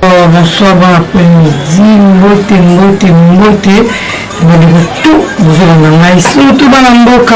Oh, bonsoir bon après-midi mbote mbote mbote bandeko to bozolanda ngai surtout bana mboka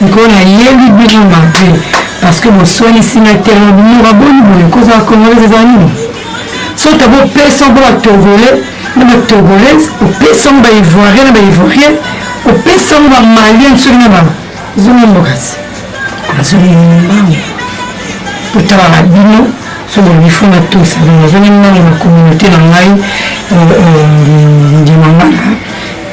mikolo hmm, nayebi bino mabe parce que boswanisi na terme binoka boni boye kozala congolaise eza nini soki bopesa mpo batogolais na batogolaise opesa yango baivoirien na baivoirien opesa yango bamalien soki na ba Zuma Mokasi, nazongi mbangu kotala na bino soki bifo na tosa bino nazongi mbangu na communauté na ngai ndima manga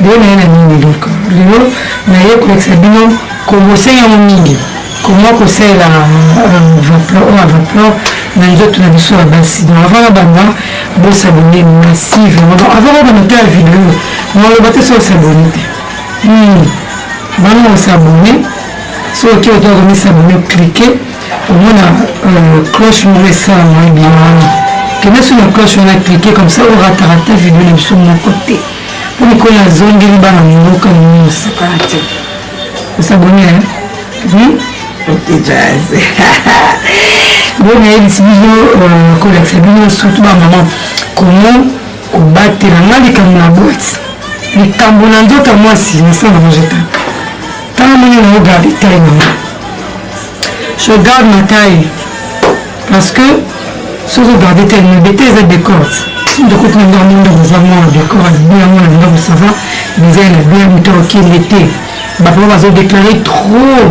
bino naye na nini donc lelo naye kolekisa bino kobose yango mingi koma kosalela vaplor oyo avaplor na nzoto na biso ya basi donc avant na banda bosabone massive avant na banda te ya video naloba te so osabone te Hmm. Bana o s'abonner. So oke oke o mi s'abonner cliquer. Omona euh, cloche moko esala mwa bien wana. Kende sur la cloche wana cliquer comme ça o rata rata video na biso moko te. Mpo mikolo azongeli bana mboka na mimi osakana te. O s'abonner hein? Oui. Ok jazz. Bon nayebisi bino euh, kolakisa bino surtout ba maman comment kobatela nga likambo na boite likambo na nzoto ya mwasi nasala yango jeta ntango ndenge nango garde taille nango je garde ma taille parce que soki ogarde taille na bete eza decorte ndokoti na ngai mondako eza mwana dekor alibi yango na ndako sava eza na bien moto okende te bapapa bazodeklare trop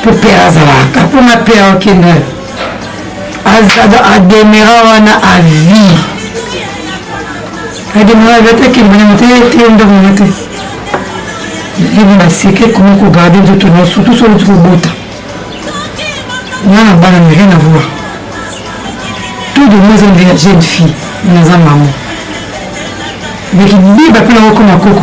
mpo pere azalaka mpo na pere okende ademera wana avie ademera avie atakendana moto te ndako na te ebi na seke ekomi kogarde nzoto na surtout soki oti kobota nga na bana na rien avoir tout de moi ezonde ya jeune fille naza mama meki biba mpe nakokoma koko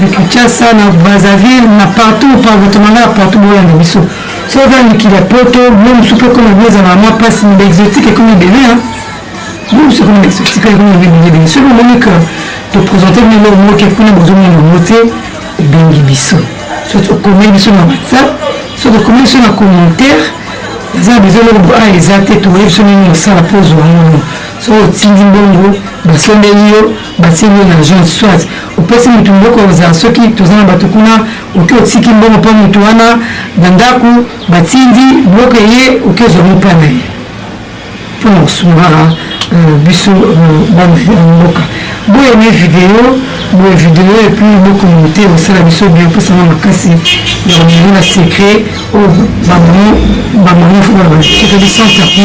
na kinshasa na brazzaville na partout partout na ngai partout boyanga biso so oza mikili ya poto blo mosusu mpe ekoma blo ezala ma mpasi na baexotique ekomi ebele blo mosusu ekomi baexotique ekomi ebelebele soki omoni ke topresente bino eloko moko ke kuna bozomona yango te obengi biso so okomeli biso na whatsapp so tokomeli biso na commentaire eza na besoin eloko boa eza te tokoyebi biso nini osala mpo ozwa yango so otindi mbongo basombeli yo basili na jean soit opesi motu mboko ozala soki toza na bato kuna oke otiki mbongo mpo motu wana na ndako batindi biloko eye oke ozwango mpo na ye mpo na kosungaka euh, biso euh, bana ya mboka boye ne video boye video epuis bokomo te osala biso bien mposana makasi ya komeli na secret oyo bamoni fo bana soki biso tapi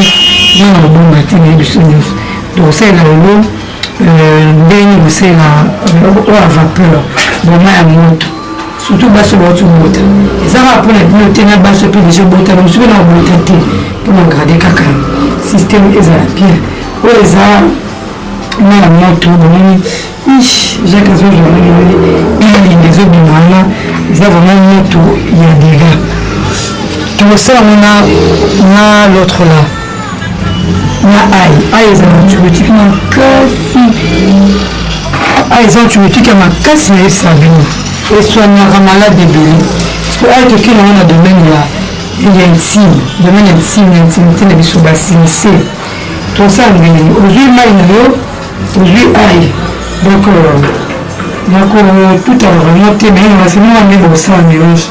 wana obonga te na ye biso nyonso donc osalela lelo ndenge kosela oyo ya vapeur boma ya moto surtout basi oyo bauti kobota eza kaka mpona bino te na basi mpe deja obotana mosusu mpe na kobota te mpo na grade kaka systeme ezala bien oyo eza na ya moto bomoni ish jacques azozwa bilingi ezobima wana eza vraimen moto ya dega tokosala ngo na l'autre là na ai ai ezala antibiotique makasi ai eza antibiotique ya makasi na yebisa bino eswaniaka malade ebele po ai toki nango na domaine ya ya intime domaine ya intime ya intimité na biso basinise tosala ndenge ozwi mai na yo ozwi ai donc euh, nakotutaka vraiment te mais nasema wana nde bosala melange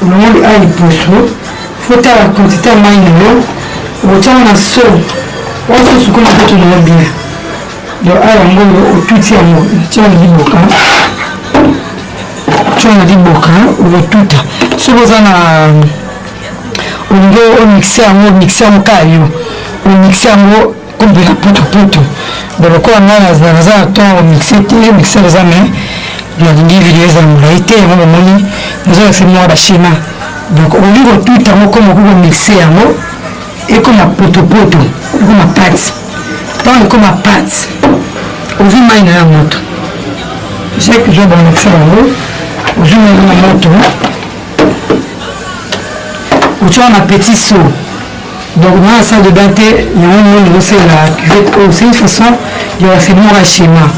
olongoli a liboso fotala quantité ya mai na yo okotyaka na so oyo so sukola nzoto na yo bien do a yango oyo otuti yango tya na liboka tya na liboka okotuta soki oza na olingi omixe yango omixe yango kaka yo omixe yango kombe na potopoto bon lokola ngai naza na ntongo mixe te mixer eza me nalingi video eza molai te yango bomoni nazolakisa mwa bashema donc olingi kotuta yango koma okoki komixe yango ekoma potopoto ekoma pati ntango ekoma pati ozwi mai na ya moto jake ozwa bamikise yango ozwi mai na moto otya wana petit saut Donc dans la salle de bain te yango monde ozosalela cuvette oyo c'est une façon ya bafinora schéma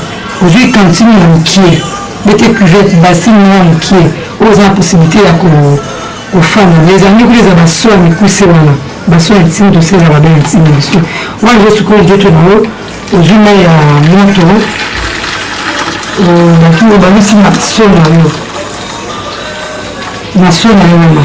ozwi cantine ya mokie bete cuvette basine moko ya mokie oyo oza na possibilité ya kofanda ezangi kuna eza baso ya mikuse wana baso ya ntini tosala babe ya ntini biso wana ezo sikoyo nzoto na yo ozwi mai ya moto batu obangisi na so na yo na so na yo wana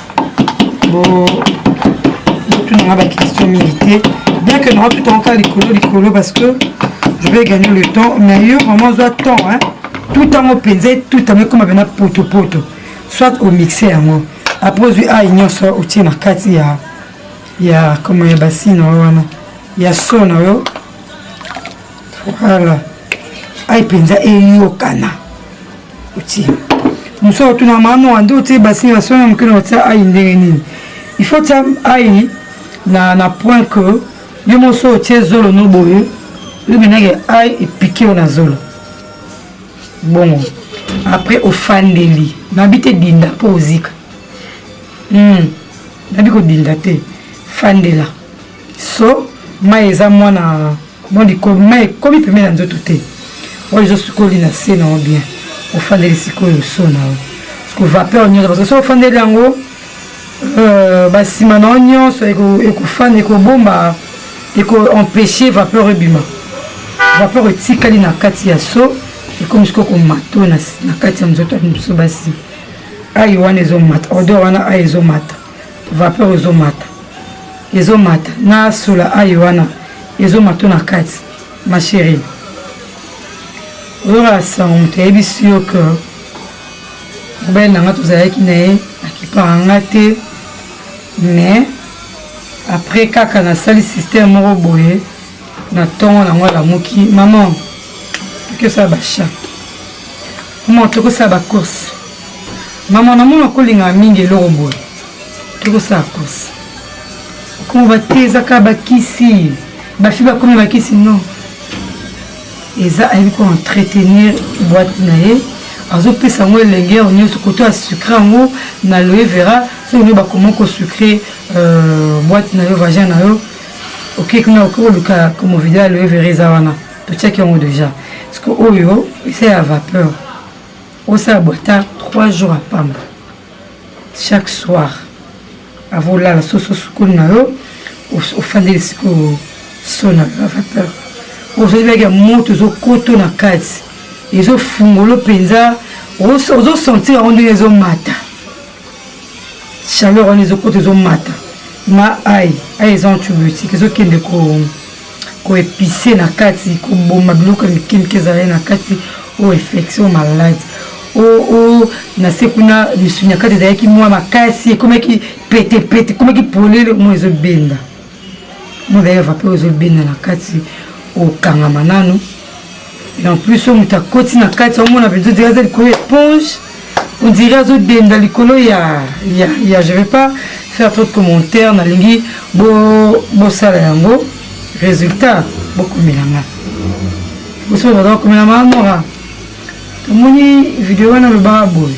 botunanga baquestion mingi te bien que nanga tout encore likolo likolo parce que je vais gagner le temps mais yo vraiment ozwa temps hein? tout ntango mpenza tout ntango ekoma mpena potopoto soit omixe yango après ozwi ai nyonso otie na kati ya ya koma ya basina wana ya so na yo Voilà. Aïe penza eyokana. Oti. Musa otuna mama wande otie basini na sona mokino otia aïe ndenge nini. Il faut tia aïe na na point que yo moso otie zolo no boye. Yo benage aïe epiqué na zolo. Bon. Après ofandeli. Nabi te dinda po ozika. Hmm. Nabi ko dinda te. Fandela. So mai eza mwana Mwa likolo mai ekomi pembe na nzoto te. Oyo ezosukoli na se na yo bien. Ofandeli sikoyo so na yo. Siko vapeur nyonso parce que soki ofandeli yango euh, basima na yo nyonso ekofanda ekobomba ekoempeshe vapeur ebima. Vapeur etikali na kati ya so ekomi sikoyo komato na kati ya nzoto ya biso basi. Ayi wana ezomata odeur wana ayi ezomata vapeur ezomata ezomata na sola ayo wana ezomata na kati ma chérie oyoka sango moto ayebisi yo ke mobali na nga tozalaki na ye akipaka nga te mais après kaka nasali système moko boye na tongo na yango alamuki maman tokesala bachat maman tokosala bacourse maman namona kolingaka mingi eloko boye tokosala course okomo batezaka bakisi bafi bakomi bakisi non eza ayebi ko entretenir boite na ye azopesa yango elenge yango nyonso koto ya sucre yango na loye vera soki bakoma kosucre euh, boite na yo vagin na yo oke kuna oke koluka komo video ya loye vere eza wana totiaki yango deja siko oyo eza ya vapeur osala bwata 3 jours ya pamba chaque soir ava olala soso sukoli na yo ofandeli sikoyo so na yo ya vapeur ozali baki ya moto ezokoto na kati ezofungolo mpenza ozosentir yango ndenge ezomata chaleur wana ezokota ezomata na ai ai eza antibiotique ezokende koepise na kati koboma biloko ya mike mike ezalai na kati o infection o maladi o na se kuna misuni ya kati ezalaki mwa makasi ekomaki petepete ekomaki polele moi ezobenda mwana eva mpe ozobenda na kati okangama nano et en plus oyo moto akoti na kati omona mpenza odire aza likolo ya éponge odire azodenda likolo ya ya ya je vais pas faire trop de commentaire nalingi bosala bo yango résultat bokomelanga bosoki baza bakomelanga mora tomoni video wana lobaka boye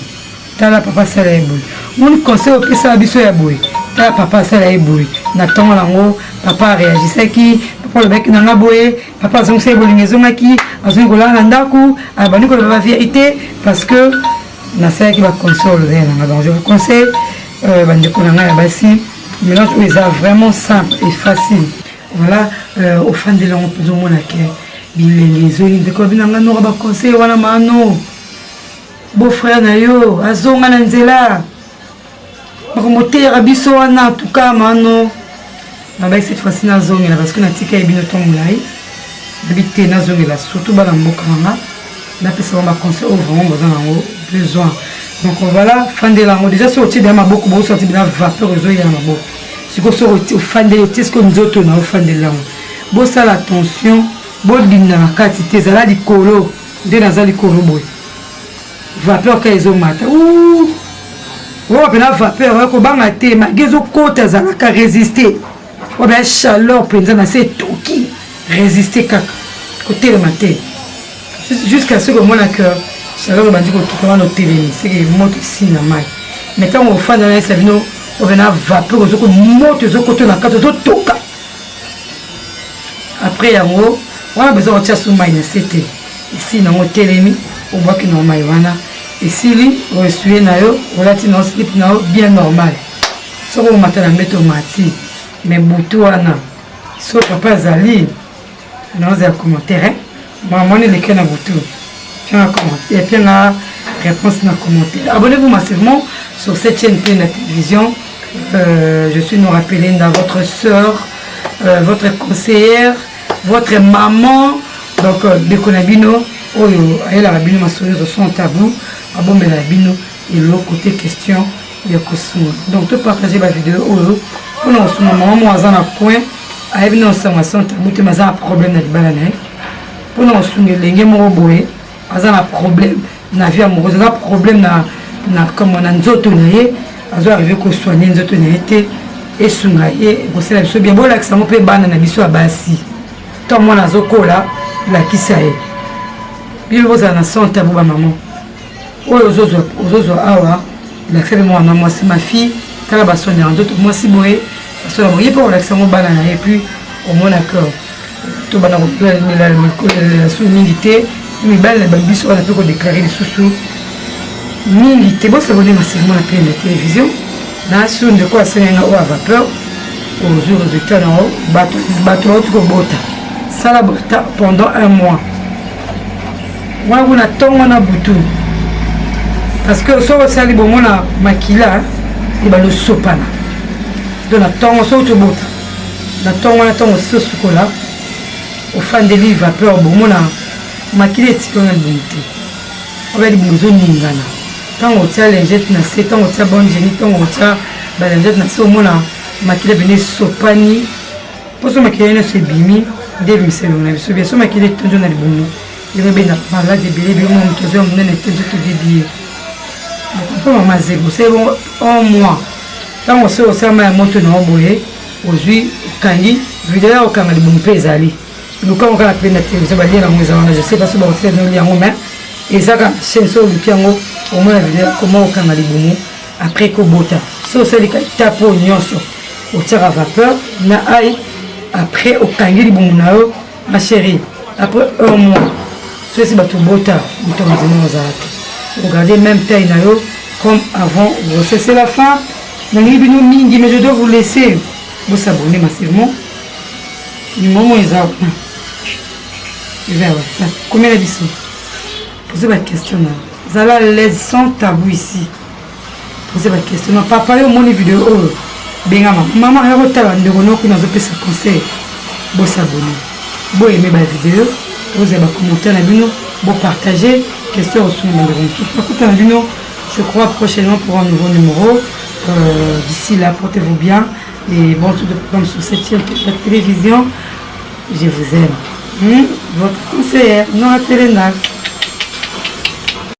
tala papa asala ye boye moni conseil opesaka biso ya boye tala papa asala ye boye na ntongo yango papa areagisaki papa olobaki na nga boye papa azongisa ye bolingo ezongaki azongi kolala na ndako abandi koloba ba vérité parce que nasalaki baconseil olobela na nga donc je vous conseille euh, bandeko na ngai ya basi mélange oyo eza vraiment simple et facile voilà euh, ofandeli yango mpenza omona ke bilenge ezongi ndeko abinanga noka baconseil wana mano beau frère na yo azonga na nzela bakomoteyaka biso wana tuka mano nabai cette fois-ci nazongela parce que natika ye bino to molai nabi te nazongela surtout bana mboka nanga napesa bango baconseil oyo vraiment baza nango besoin donc voilà fandela yango déjà soki otie bia maboko bosorti bina vapeur ezoyela maboko sikoyo soki ofandeli otie siko nzoto na ofandela yango bosala attention bodinda na kati te ezala likolo nde naza likolo boye vapeur ka ezomata oyo mpena vapeur ya kobanga te magi ezokota ezalaka résiste oyo baya chaleur mpenza na se etoki résiste kaka kotelema te jusqu'à ce komona que chaleur ebandi kotuka wana otelemi seke moto esi na mai mais ntango ofanda na yesa bino oyo mpena vapeur ozokomoto ezokota na kati ozotoka après yango wana besoin kotia su mai na se te esi nango telemi obwaki na mai wana esili oesue na yo olati na slip na yo bien normal soki omata na mbeto omati me butu wana so papa azali naoza ya commentaire Maman wana eleki na butu. Mpe na commentaire, mpe na réponse na commentaire. Abonnez-vous massivement sur cette chaîne mpe na télévision. Euh, je suis Nora Pelinda, votre sœur, euh, votre conseillère, votre maman. Donc, euh, ndeko na bino oyo ayelaka bino masolo nyonso sans tabou abombela bino eloko te question ya kosunga donc to partage ba video oyo mpona kosunga mama moko aza na coin ayebi na osango ya sante abutema aza na problème na libala na ye mpona kosunga elenge moko boye aza na problème na vie amoureuse aza problème na na kama na nzoto na ye azo arrive kosoigne nzoto na ye te esunga ye ekosala biso bien bolakisa yango mpe bana na biso ya basi to mwana azokola lakisa ye bino bozala na sante ya bo bamama oyo ozozwa awa olakisa mpe mwana mwasi ma fille tala basoni yango nzoto mwasi boye basoni yango ye mpe olakisa yango bana na ye puis omona que tobanda kopelela mikolelela su mingi te mibali na babiso wana mpe kodeklare lisusu mingi te bosabone masermo na pene na télévision na sur ndeko asenga nga oyo a vapeur ozwi résultat na yo bato bauti kobota sala bota pendant un mois wana kuna ntongo na butu parce que soki osali bongo na makila ebanda osopana to na ntongo soki tobota na ntongo wana ntongo osisi osukola ofandeli vapeur bomona makila etika na libumu te oba libumu ezoningana ntango otya lingete na se ntango otya bongeni ntango otya balingete na se omona makila pene esopani mposo makila nyonso ebimi nde ebimisa elongo na biso biaso makila etondio na libumu yango ebenda maladi ebele ebele mwa moto azwa monene te nzoto ebibie mpo mama zebo osali bongo un mois ntango osi osala mai ya moto na yo boye ozwi okangi video ya okanga libumu mpe ezali lukango kaka mpe na televizio balie yango eza wana je sais pas so bakosala noli yango mais ezaka chaine so oluki yango omona video koma okanga libumu après kobota so osali ka etape oyo nyonso otiaka vapeur na ai après okangi libumu na yo ma chérie après un mois so esi bato obota moto mazima ozala te ogarde même taille na yo comme avant grossesse la fin nalingi bino mingi mais je dois vous laisser bosabone massivement numéro eza kuna eza ya whatsapp komela biso poze baquestion na zala laise sans tabou ici poze bakestion na papa yo omoni video oyo benga mama mama ya kotala ndeko noko kuna azopesa conseil bosabone boyeme bavideo bozala bacommentaire na bino bopartage question osuna bandeko mosusu nakuta na bino je crois prochainement pour un nouveau numéro euh, d'ici là portez vous bien et bon tout de programme sur cette chaîne la télévision je vous aime hmm? votre conseillère nora telena